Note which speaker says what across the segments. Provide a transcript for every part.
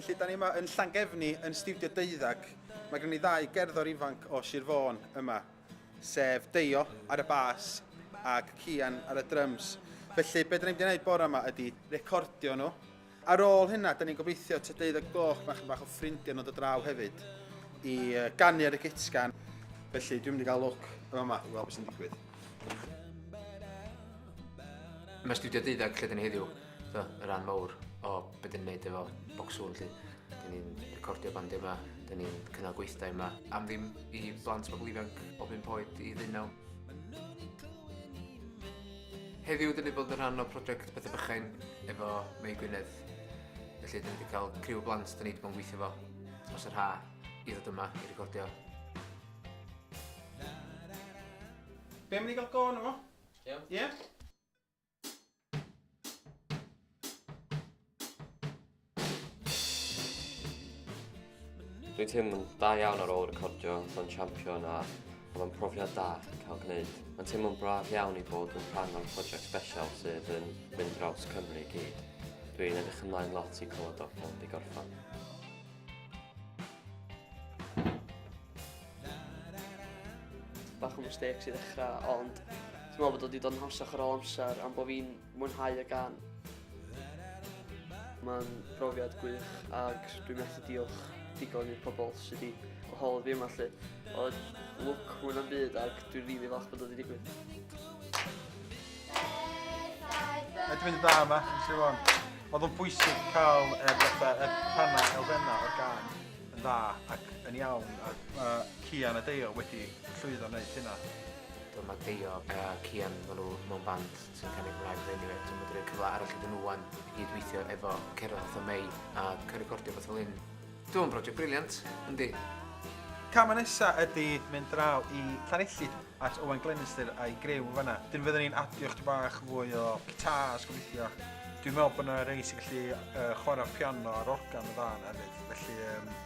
Speaker 1: Felly, da ni yma yn Llangefni, yn Studio Deuddag. Mae gen i ddau gerddor ifanc o Sir Fôn yma, sef Deio ar y bas ac Cian ar y drums. Felly, be da ni'n mynd i wneud bore yma ydy recordio nhw Ar ôl hynna, da ni'n gobeithio ta deuddeg gloch mae chyn bach o ffrindiau nod o draw hefyd i ganu ar y gitgan. Felly, dwi'n mynd i gael look yn yma i weld beth sy'n digwydd. Mae studio deuddeg lle dyn ni heddiw, so, y rhan mawr o beth dyn ni'n neud efo Bocsŵn, lle dyn ni'n recordio band yma, dyn ni'n cynnal gweithdai yma. Am ddim i blant bobl ifanc o bum poed i ddeunaw. Heddiw dyn ni bod yn rhan o prosiect Pethau Bychain efo Mei Gwynedd. Felly dyn ni wedi cael criw o blant dyn ni wedi bod yn gweithio fo dros yr ha i ddod yma i recordio. Be am ni gael go yno fo? Iawn. Ie? Dwi'n teimlo'n da iawn ar ôl recordio Llon Champion a oedd o'n profiad da cael gwneud. Mae'n teimlo'n braf iawn i bod yn rhan o'r prosiect special sydd yn mynd draws Cymru i gyd. Dwi'n edrych ymlaen lot i clywed o'r ffordd i gorffan. Bach o mistakes i ddechrau, ond dwi'n meddwl bod wedi dod yn hawsach ar ôl amser am bod fi'n mwynhau y gan. Mae'n brofiad gwych ac dwi'n methu diolch digon i'r pobl sydd wedi gwahodd fi yma lly. Oedd lwc hwn am byd ac dwi'n rili really falch bod wedi digwydd. Ydw i'n dda yma, yn sy'n o'n. Oedd o'n bwysig cael y rhannau elfennau o'r gan yn dda ac yn iawn ac mae Cian a Deio wedi llwyddo wneud hynna. Dyma Deio a Cian, maen nhw mewn band sy'n cynnig rhai rheini a wedyn medru rhoi cyfle arall iddyn nhw ŵan i gyd-weithio efo Cerdd fatha Mei a cael recordio rhywbeth fel hyn. Dwi'n meddwl yn broject briliant, yndi. Camau nesa ydy mynd draw i Llanelli at Owen Glenister a'i grew yn fanna. Dyn fydden ni'n adio chdi bach fwy o guitars gobeithio. Dwi'n meddwl bod yna rei sy'n gallu uh, chwarae piano ar organ y ddan hefyd, felly um,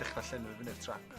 Speaker 1: dechrau llenwi fyny'r trac.